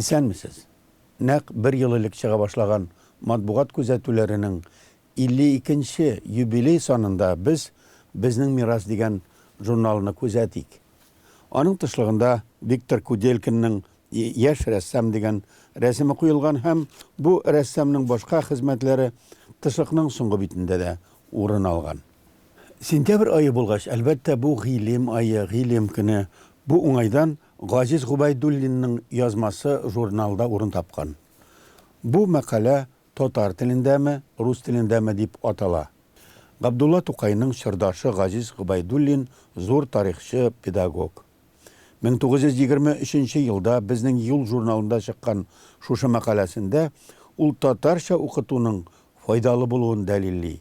Исәнмесез! Нәкъ бер ел элек чыга башлаган матбугат күзәтүләренең 52 нче юбилей санында без Безнең мирас дигән журналны күзәтик. Аның тышлыгында Виктор Куделькинның Яшь рәссам дигән рәсеме куелган һәм бу рәссамның башка хезмәтләре тышлыкның соңгы битендә дә урын алган. Сентябрь ае булгач, әлбәттә, бу гыйлем ае, гыйлем көне. Бу уңайдан Газиз Гобәйдуллинның язмасы журналда урын тапкан. Бу мәкалә Татар телендәме, рус телендәме дип атала. Габдулла Тукайның чордашы Газиз Гобәйдуллин зур тарихчы, педагог. 1923 нче елда Безнең юл журналында чыккан шушы мәкаләсендә ул татарча укытуның файдалы булуын дәлилли.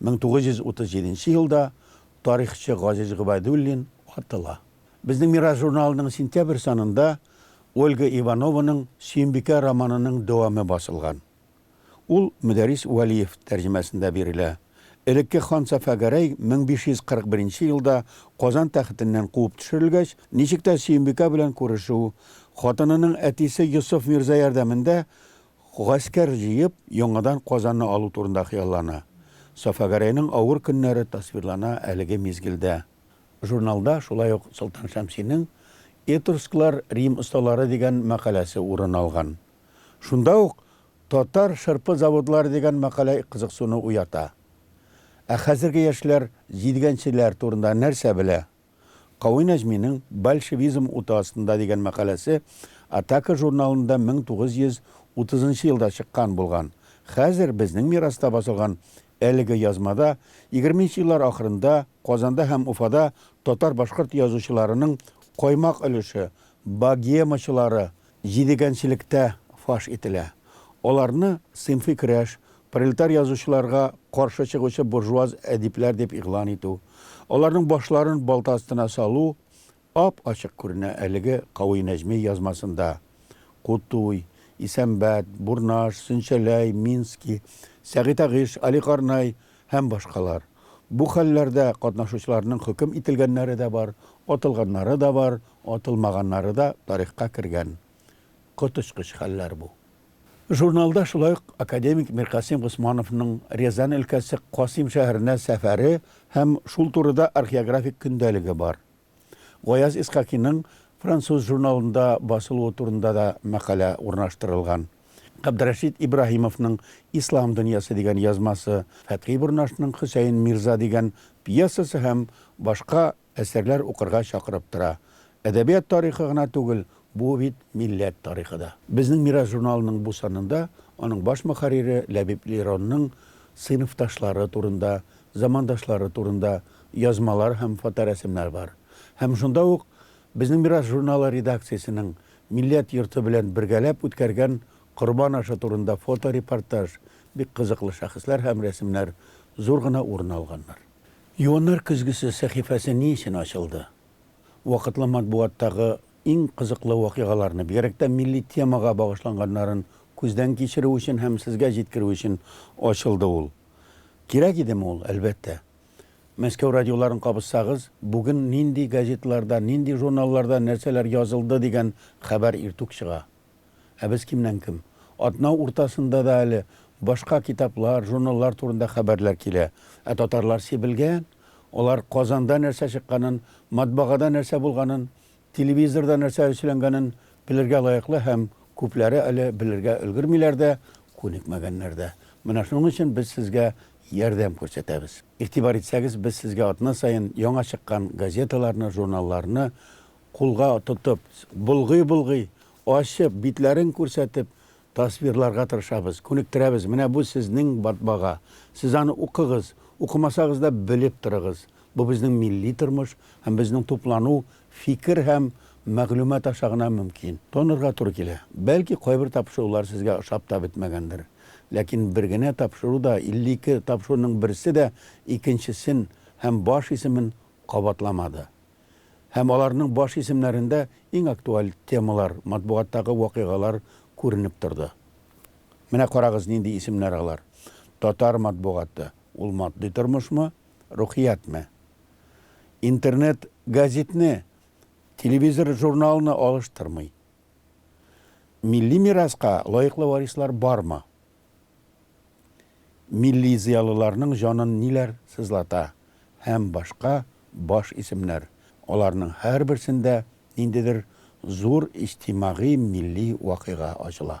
1937 елда тарихчы Газиз Гобәйдуллин атыла. Безнең мирас журналының сентябрь санында Ольга Иванованың Сөембикә романының дәвамы басылган. Ул Мөдәррис Вәлиев тәрҗемәсендә бирелә. Элекке хан Сафа Гәрәй 1541 елда Казан тәхетеннән куып төшерелгәч, ничек тә Сөембикә белән күрешү, хатынының әтисе Йосыф мирза ярдәмендә Гаскәр җыеп, яңадан Казанны алу турында хыяллана. Сафагәрәйнең авыр көннәре тасвирлана әлеге мизгелдә. Журналда шулай ук Солтан Шәмсинең Этрусклар, Рим осталары дигән мәкаләсе урын алган. Шунда ук Татар шырпы заводлары дигән мәкалә кызыксыну уята. Ә хәзерге яшьләр җидгәнчеләр турында нәрсә белә? Кави Нәҗминең Большевизм уты астында дигән мәкаләсе Атака журналында 1930 нчы елда чыккан булган. Хәзер безнең мираста басылган әлеге язмада егерме нче еллар ахырында Казанда һәм Уфада татар-башкорт язучыларының каймак өлеше, богемачылары, җидегәнчелектә фаш ителә. Аларны сыйнфый көрәш, пролетар язучыларга каршы чыгучы буржуаз әдипләр дип игълан итү, аларның башларын балта астына салу ап-ачык күренә әлеге Кауи Нәҗми язмасында, Кутуй, Исәнбәт, Бурнаш, Сөнчәләй, Мински, Сәгыйтагыш, Аликарнай, һәм башкалар Бу хәлләрдә катнашучыларның хөкем ителгәннәре дә бар, атылганнары да бар, атылмаганнары да тарихка кергән коточкыч хәлләр бу. Журналда шулай ук академик Миркасыйм Госмановның Рязань өлкәсе Касыйм шәһәренә сәфәре һәм шул турыда археографик көндәлеге бар. Гаяз Исхакиның француз журналында басылуы турында да мәкалә урнаштырылган. Габдрәшит Ибраһимовның Ислам дөньясы дигән язмасы, Фәтхи Борнашның Хөсәен мирза дигән пьесасы һәм башка әсәрләр укырга чакырып тора. Әдәбият тарихы гына түгел, Бу бит милләт тарихы да. Безнең Мирас журналының бу санында аның баш мөхәррире Ләбиб Леронның сыйныфташлары турында, замандашлары турында язмалар һәм фоторәсемнәр бар. Һәм шунда ук Безнең Мирас журналы редакциясенең милләт йорты белән бергәләп үткәргән Корбан ашы турында фоторепортаж, бик кызыклы шәхесләр һәм рәсемнәр зур гына урын алганнар. Юаннар көзгесе сәхифәсе ни өчен ачылды? вакытлы матбугаттагы иң кызыклы вакыйгаларны, бигрәк тә милли темага багышланганнарын күздән кичерү өчен һәм сезгә җиткерү өчен ачылды ул. Кирәк идеме ул? Әлбәттә. Мәскәү радиоларын кабызсагыз, бүген нинди газеталарда, нинди журналларда нәрсәләр язылды дигән хәбәр иртүк чыга. Ә без кемнән-кем. Атна уртасында да әле башка китаплар, журналлар турында хәбәрләр килә. Ә татарлар сибелгән. Алар Казанда нәрсә чыкканын, матбагада нәрсә булганын, телевизорда нәрсә өсләнгәнен белергә лаеклы һәм күпләре әле белергә өлгермиләр дә, күнекмәгәннәр дә. Менә шуның өчен без сезгә ярдәм күрсәтәбез. Игътибар итсәгез, без сезгә атна саен яңа чыккан газеталарны, журналларны Кулга тотып, болгый-болгый, ачып, битләрен күрсәтеп, тасвирларга тырышабыз, күнектерәбез, менә бу сезнең батбага, сез аны укыгыз, укымасагыз да белеп торыгыз, бу безнең милли тормыш һәм безнең туплану фикер һәм мәгълүмат аша гына мөмкин. Тонарга туры килә. Бәлки кайбер тапшырулар сезгә ошап та бетмәгәндер. Ләкин бер генә тапшыру да, 52 тапшыруның берсе дә икенчесен һәм баш исемен кабатламады. Һәм аларның баш исемнәрендә иң актуаль темалар, матбугаттагы вакыйгалар күренеп торды. Менә карагыз, нинди исемнәр алар. Татар матбугаты, ул матди тормышмы, рухиятме? Интернет гәзитне, телевизор журналны алыштырмый. Милли мираска лаеклы варислар бармы? Милли зыялыларның җанын ниләр сызлата һәм башка баш исемнәр, аларның һәрберсендә ниндидер зур иҗтимагый милли вакыйга ачыла.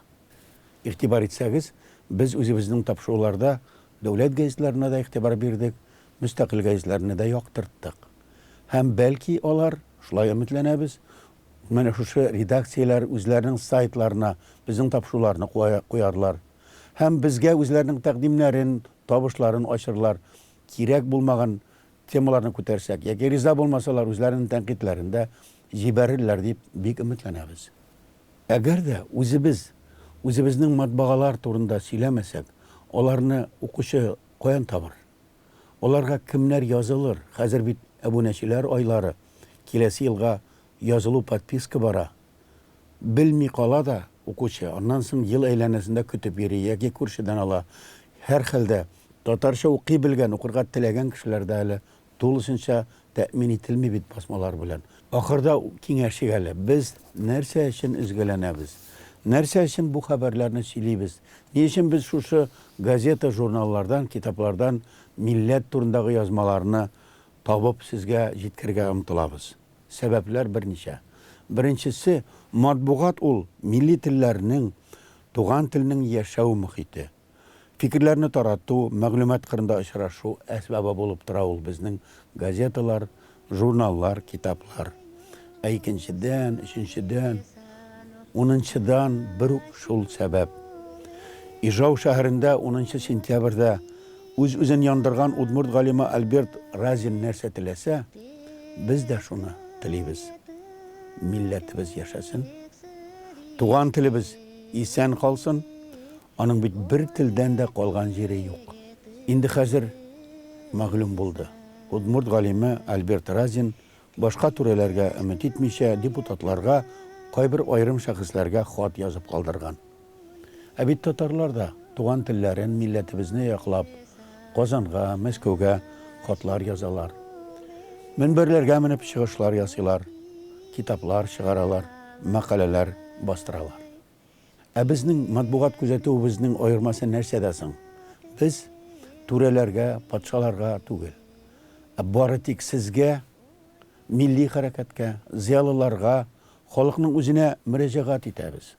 Игътибар итсәгез, без үзебезнең тапшыруларда дәүләт газетларына да игътибар бирдек, мөстәкыйль газетләрне дә яктырттык. Һәм, бәлки, алар, шулай өметләнәбез, Менә шушы редакцияләр үзләренең сайтларына безнең тапшыруларны куярлар һәм безгә үзләренең тәкъдимнәрен, табышларын ачырлар, кирәк булмаган темаларны күтәрсәк яки риза булмасалар, үзләренең тәнкыйтьләрен дә җибәрерләр дип бик өметләнәбез. Әгәр дә үзебез үзебезнең матбагалар турында сөйләмәсәк, аларны укучы каян табыр? Аларга кемнәр язылыр? Хәзер бит әбүнәчеләр айлары, киләсе елга язылу подписка бара. Белми кала да укучы, аннан соң ел әйләнәсендә көтеп йөри яки күршедән ала. Һәрхәлдә, татарча укый белгән, укырга теләгән кешеләрдә әле тулысынча Тәэмин ителми бит басмалар белән. Ахырда киңәшик әле, без нәрсә өчен өзгәләнәбез? Нәрсә өчен бу хәбәрләрне сөйлибез? Ни өчен без шушы газета-журналлардан, китаплардан милләт турындагы язмаларны табып сезгә җиткерергә омтылабыз? Сәбәпләр берничә. Беренчесе, матбугат ул, милли телләрнең, туган телнең яшәү мохите. Фикерләрне тарату, мәгълүмат кырында очрашу әсбабы булып тора ул безнең газеталар, журналлар, китаплар. Ә икенчедән, өченчедән, унынчыдан бер үк шул сәбәп. Ижау шәһәрендә унынчы сентябрьдә үз-үзен яндырган удмурт галиме Альберт Разин нәрсә теләсә, без дә шуны телибез. Милләтебез яшәсен! Туган телебез исән калсын! Аның бит бер телдән дә калган җире юк. Инде хәзер мәгълүм булды, удмурт галиме Альберт Разин башка түрәләргә өмет итмичә, депутатларга, кайбер аерым шәхесләргә хат язып калдырган. Ә бит татарлар да, туган телләрен, милләтебезне яклап, Казанга, Мәскәүгә хатлар язалар, мөнбәрләргә менеп чыгышлар ясыйлар, китаплар чыгаралар, мәкаләләр бастыралар. Ә безнең матбугат күзәтүебезнең аермасы нәрсәдә соң? Без түрәләргә, патшаларга түгел, ә бары тик сезгә, милли хәрәкәткә, зыялыларга, халыкның үзенә мөрәҗәгать итәбез.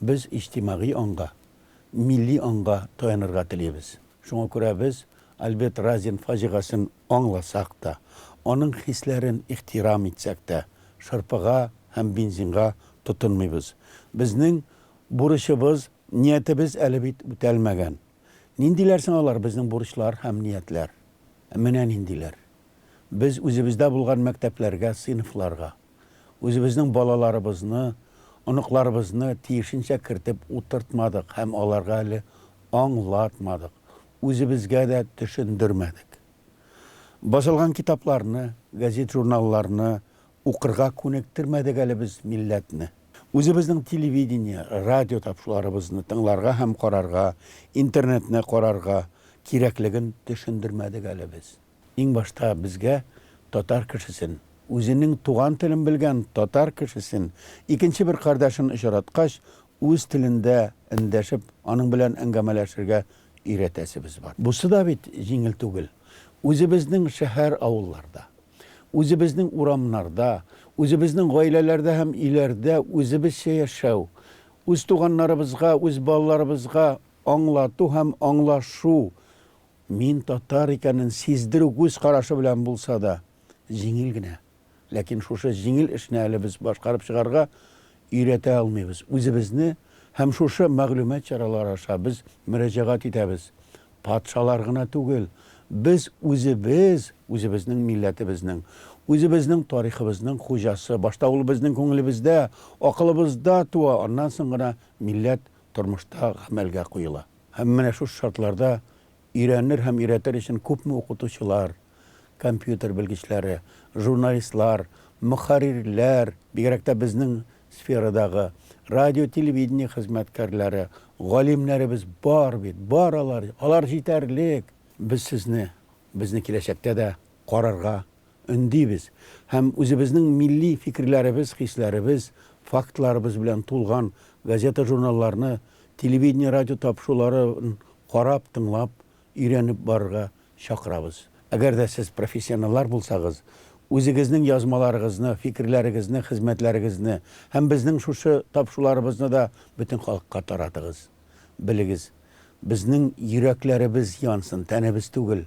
Без иҗтимагый аңга, милли аңга таянырга телибез. Шуңа күрә без Альберт Разин фаҗигасен аңласак та, аның хисләрен ихтирам итсәк тә, шырпыга һәм бензинга тотынмыйбыз. Безнең бурычыбыз, ниятебез әле бит үтәлмәгән. Ниндиләр соң алар, безнең бурычлар һәм ниятләр? Ә менә ниндиләр. Без үзебездә булган мәктәпләргә, сыйныфларга. Үзебезнең балаларыбызны, оныкларыбызны тиешенчә кертеп утыртмадык һәм аларга әле аңлатмадык. Үзебезгә дә төшендермәдек. Басылган китапларны, гәзит-журналларны укырга күнектермәдек әле без милләтне. Үзебезнең телевидение, радио тапшуларыбызны тыңларга һәм карарга, интернетны карарга кирәклеген төшендермәдек әле без. Иң башта безгә татар кешесен, үзенең туган телен белгән татар кешесен, икенче бер кардәшен очраткач, үз телендә эндәшеп, аның белән әңгәмәләшергә өйрәтәсебез бар. Бусы да бит җиңел түгел. Үзебезнең шәһәр-авылларда, үзебезнең урамнарда, үзебезнең гаиләләрдә һәм өйләрдә үзебезчә яшәү, үз туганнарыбызга, үз балаларыбызга аңлату һәм аңлашу, мин татар икәнен сиздерү күз карашы белән булса да, җиңел генә. Ләкин шушы җиңел эшне әле без башкарып чыгарга өйрәтә алмыйбыз. Үзебезне һәм шушы мәгълүмат чаралары аша без мөрәҗәгать итәбез. Патшалар гына түгел, без үзебез, үзебезнең милләтебезнең, үзебезнең тарихыбызның хуҗасы. Башта ул безнең күңелебездә, акылыбызда туа, аннан соң гына милләт тормышта гамәлгә куела. Һәм менә шушы шартларда Өйрәнер һәм өйрәтер өчен күпме укытучылар, компьютер белгечләре, журналистлар, мөхәррирләр, бигрәк тә безнең сферадагы радио-телевидение хезмәткәрләре, галимнәребез бар бит, бар алар, алар җитәрлек! Без сезне, безне киләчәктә дә карарга, өндибез һәм үзебезнең милли фикерләребез, хисләребез, фактларыбыз белән тулган газета-журналларны, телевидение-радио тапшыруларын карап, тыңлап, өйрәнеп барырга чакырабыз. Әгәр дә сез профессионаллар булсагыз, үзегезнең язмаларыгызны, фикерләрегезне, хезмәтләрегезне һәм безнең шушы тапшыруларыбызны да бөтен халыкка таратыгыз. Белегез, безнең йөрәкләребез янсын, тәнебез түгел.